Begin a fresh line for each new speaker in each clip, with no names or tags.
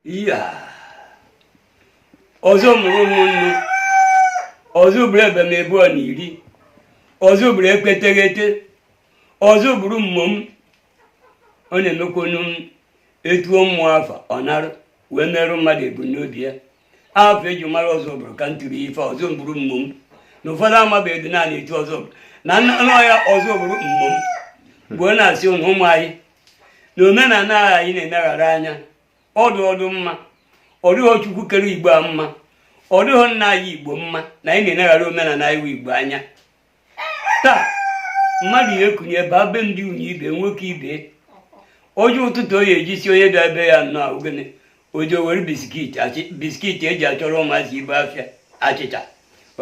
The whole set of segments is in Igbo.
iya ọzọ bụrụ mmụọ m ọzọ bụrụ ebemebe ọ na iri ọzọ bụrụ ekpeteghete ọzọ bụrụ mmụọ m ọ na-emekwonu m etuo mmụọ afa ọ narụ wee merụ mmadụ ebumnobi ya afa eji mara ọzọ bụrụ ka m tiri ife ọzọ bụrụ mmụọ m na ụfọdụ amabeghị dị naanị etu ọzọ bụrụ na nna ya ọzọ bụrụ mmụọ m mgbe ọ na-asị ụnụ ụmụ anyị na omenala anyị na-eneghara anya ọdụ ọdụ mma ọ dịghọ Chukwu kere Igbo a mma ọ dịghọ nna anyị Igbo mma na anyị na-eneghara omenala iwu Igbo anya taa mmadụ ya ekunie baa be ndị unyi ibe nwoke ibe o ji ụtụtụ o ya ejisi onye bịa be ya nnọọ ọ gịnị ọjị o were biskiti eji achọrọ ụmụazị ife afịa achịcha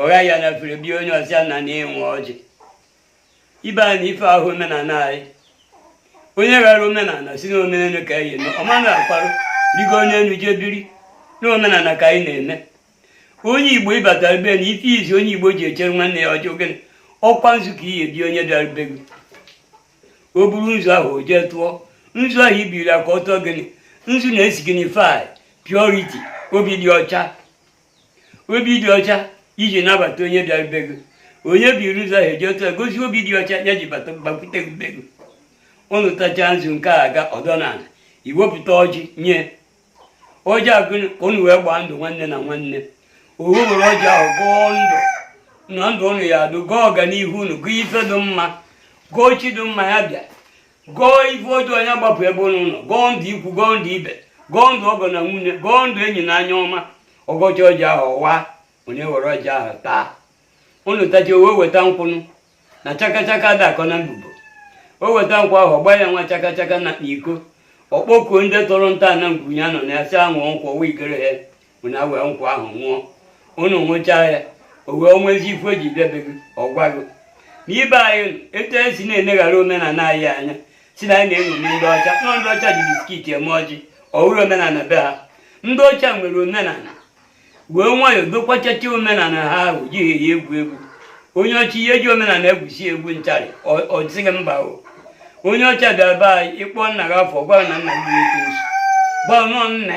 ọ ghaa ya na afere bie onye ọ sị ya na na-enwe ọjị ibe anyị na ife ahụ omenala anyị onye rara omenala si na omenelu ka anyị eme ọma na-akwarụ rigoo na elu jee biri na omenala ka anyị na-eme onye igbo ị bata be na ife izi onye igbo ji echere nwanne ya ọjị ọ gịnị ọ kwa nzu ka ị ya-ebi onye bịara be gị o buru nzu ahụ o jee tụọ nzu ahụ i biri ya ka ọ tụọ gịnị nzu na-esignify purity obi dị ọcha obi dị ọcha i ji nabata onye bịara be gị onye buru nzu ahụ jee tụọ gosi obi dị ọcha ya ji bata gbakwute gị be gị ụnụ tachaa nzu nke a ga ọdọ na ala i wepụta ọjị nye ọjị ahụ ka ụnụ wee gbaa ndụ nwanne na nwanne o wee were ọjị ahụ gọọ ndụ na ndụ ụnụ ya adụ gọọ ọganihu ụnụ gọọ ife dị mma gọọ chi dị mma ya bịa gọọ ife ọjọọ ya gbapụ ebe ụnụ nọ gọọ ndụ ikwu gọọ ndụ ibe gọọ ndụ ọgọ na nwunye gọọ ndụ enyi na anya ọma ọ gọcha ọjị ahụ ọ waa onye were ọjị ahụ taa ụnụ tacha o wee weta nkwụ enu na chakachaka dị akọ na mbubo o weta nkwụ ahụ ọ gbaa ya nwa chakachaka na iko ọ kpọkuo ndị tọrọ nta na ngwunye anọ na asị anwụ nkwụ ọwa ikere ha unu ewee nkwụ ahụ nwụọ unu nwụchaa ya o wee nwezi ife o ji bịa be gị ọ gwa gị n'ibe anyị etu anyị si na-eneghara omenala anyị anya sị na anyị na-eṅomi ndị ọcha nọ ndị ọcha ji biskit eme ọjị ọ bụrụ omenala be ha ndị ọcha nwere omenala wee nwayọọ dokwachacha omenala ha ahụ ejighị ya egwu egwu onye ọcha ya eji omenala egwusi egwu ntarị ọ dịghị mba o onye ọcha bịara be anyị ị kpọọ nna gị afa ọ gwa na nna gị ekwensu gwa nọ nna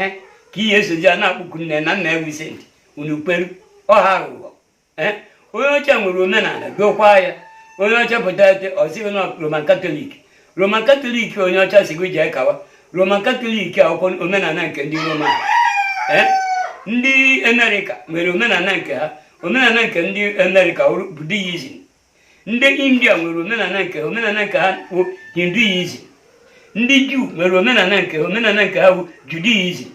ka ị ya-esozi ya na-akpọku nne na nna ya wụ saint unu kperu ọha aghụghọ eh? onye ọcha nwere omenala dokwa ya onye ọcha pụta ete ọ sị gị na roman katọlik roman katọlik onye ọcha sị gị jee kawa roman katọlik ọ wụkwa omenala nke ndị roman eh? ndị amerịka nwere omenala nke ha omenala nke ndị amerịka bụ deism ndị india nwere omenala nke ha omenala nke ha bụ hinduism ndị juu nwere omenala nke ha omenala nke ha bụ judaism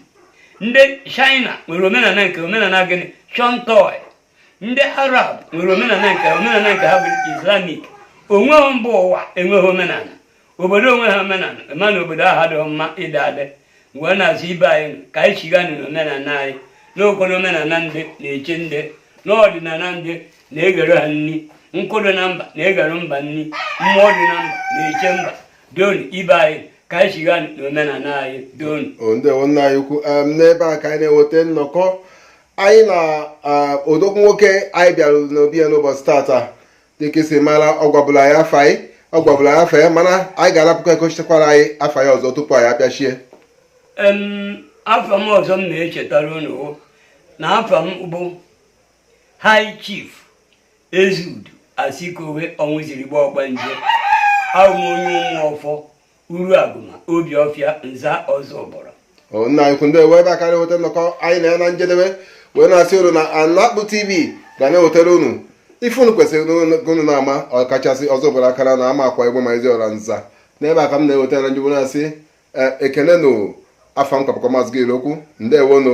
ndị china nwere omenala nke omenala gịnị shintoi ndị arab nwere omenala nke omenala nke ha bụ islamic o nweghị mba ụwa enweghị omenala obodo enweghị omenala ma na obodo ahụ adịghị mma ịdị adị wee na-asị ibe anyị ka anyị chighanụ n'omenala anyị na o kwuru omenala ndị na-eche ndị na ọdịnala ndị na-eghere ha nri nkụ dị na mba na-eghere mba nri mmụọ dị na mba na-eche mba donu ibe anyị ka anyị chighanụ n'omenala anyị donu ndewo nna anyị
ukwu n'ebe a ka anyị na-eweta nnọkọ anyị na odogwu nwoke anyị bịara n'obi ya n'ụbọchị tata dị ka e si mara ọ gwabula anyị afa ya ọ gwabula anyị afa ya mana anyị ga-arapụkwa ya ka o chetakwara anyị afa ya ọzọ tupu anyị apịachie
afa m ọzọ m na-echetara unu na afa m bụ high chief ezeudu asikowe ọnwụzirigbo ọgbanje abụ m onye ụmụ ọfọ uru agụma obi ọfịa nza ozubulu nna anyị ukwu
ndewo ebe a ka anyị na-eweta nnọkọ anyị na ya na njedebe wee na-asị unu na anakpụ tv ga na-ewetara unu ife unu kwesịrị unu na-ama ọkachasị ozubulu akara anọ amakwa egbema eziora nza n'ebe a ka m na-ewetara ndị bụ na-asị e, ekene nụ afa m ka bụkwa maazị gil okwu ndewonụ